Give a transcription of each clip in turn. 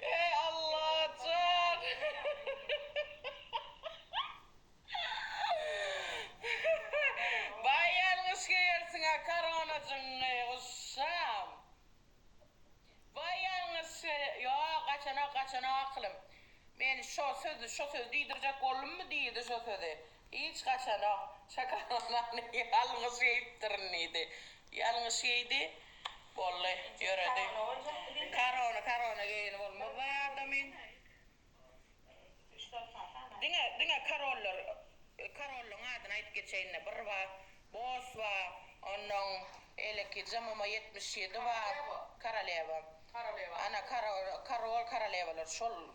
Eý Allajan! Baý ýalňyş geýersiňä korona jyny guşam. Baý ýalňyş ýok gaçanok gaçanok akylym. Men şo sözi şo sözi diýdirjek boldummy diýdi şo sözi. Hiç haçanok. Şokoladany ýalňyş iýipdirin diýdi. Ýalňyş iýdi. Boldy. Ýöredi. Korona, korona geýeni bolmazlaý adamyň. Diňe, diňe korollar, korollaň adyny aýdyp geçeýin-le. Bir bar, Bos bar, onnoň eleki JMM ýetmiş ýedi bar. Koralewa. Koralewa. Ana, korol, korolewalar şol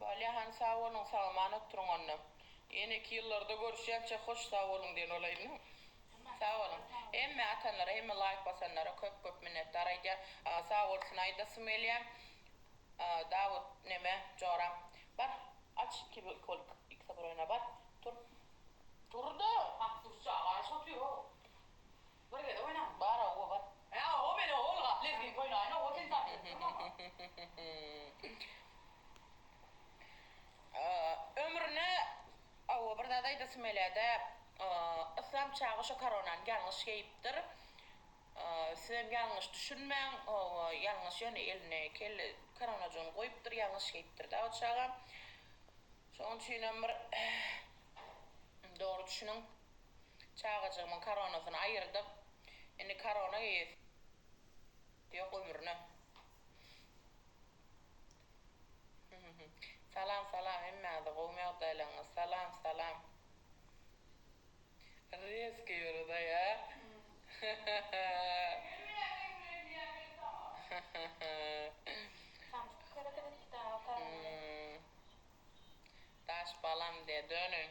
Balýahan sag boluň sagaman oturyň onda. Ýene iki ýyllarda görüşýänçä hoş sag boluň diýen bolaýyn. Sag boluň. Hemme atanlara hemme laýk basanlara köp köp minnetdar aýdýan. Sag bolsun aýdasym gelýä. Dawut neme joram. Bar aç iki kolik iki saproýna bar. Tur. Turda. Hak durjak aç otur. Bir gezek oýnaň bar a obar. He oba men oba ylgap lezgin oýnaýyn oba sen tanyp durmaňa. Ömrüne a oba bir zat aýdasym gelýädä Yslam çaga şo koronany ýalňyş geýipdir sizem ýalňyş düşünmäň oba ýalňyş ýöne eline kelle koronajygyny goýupdyr ýalňyş geýipdirda o çaga şoň üçinem bir dogry düşüniň. Çagajygymyň koronasyny aýyrdyk. Indi korona geýesi ýok ömrüne. Salam salam hemmänze gowmy ýagdaýlaryňyz salam salam. Reskiý ýörede ýa. Daş balam diýä dönüň.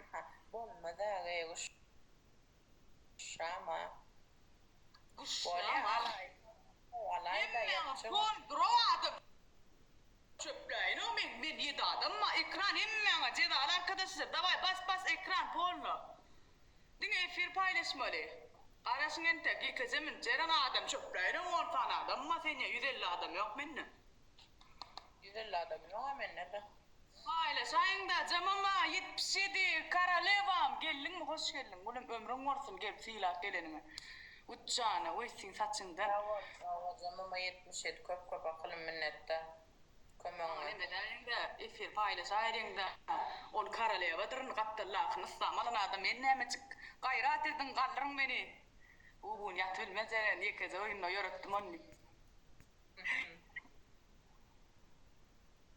Aha, bolmaz agay guşrama. Bolya alaý alaýda ýapjyň. Çöpläýinok men men ýedi adamma ekran hemmäňe jezaly arkadaşlar daway bas bas ekran polno diňe efir paýlaşmaly garaşyň entek ýekeje mün jeren adam çöpläýinok on sany adamma senýa ýüz elli adam ýok mende ýüz elli adam ýok a mende de. Paýlaşaýyňda jamama ýetmiş ýedi karolewam geldiňmi hoş geldiň gülüm ömrüň bolsun gelip sylap geleniňe üç jana we siň saçyňdan. Sag bol sag bol jamama ýetmiş ýedi köp köp akylym minnetdar kömegiňe. Ýöne nämeläýiňda efir paýlaşaýryňda ol korolewadyr indi gapdal lakyny yslam alan adam men nämejik gaýrat ediň galdyryň meni bu gün ýatyp bilmez ýeren ýekeje oýunda ýöretdim ony.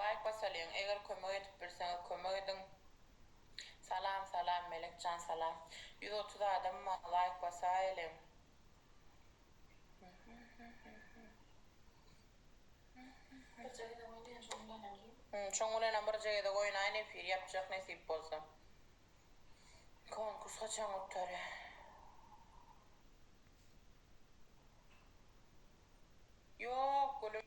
Laýk basalyň eger kömek edip bilseňiz kömek ediň Salam salam Melekjan salam ýüz otuz adam ma laýk basaýeliň. Birje gezek oýnaýyn şoň bilenem diýip. Hum şoň bilenem birje gezek oýnaýyn efir ýapjak nesip bolsa. Konkurs haçan gutarýar. Ýok gülüm.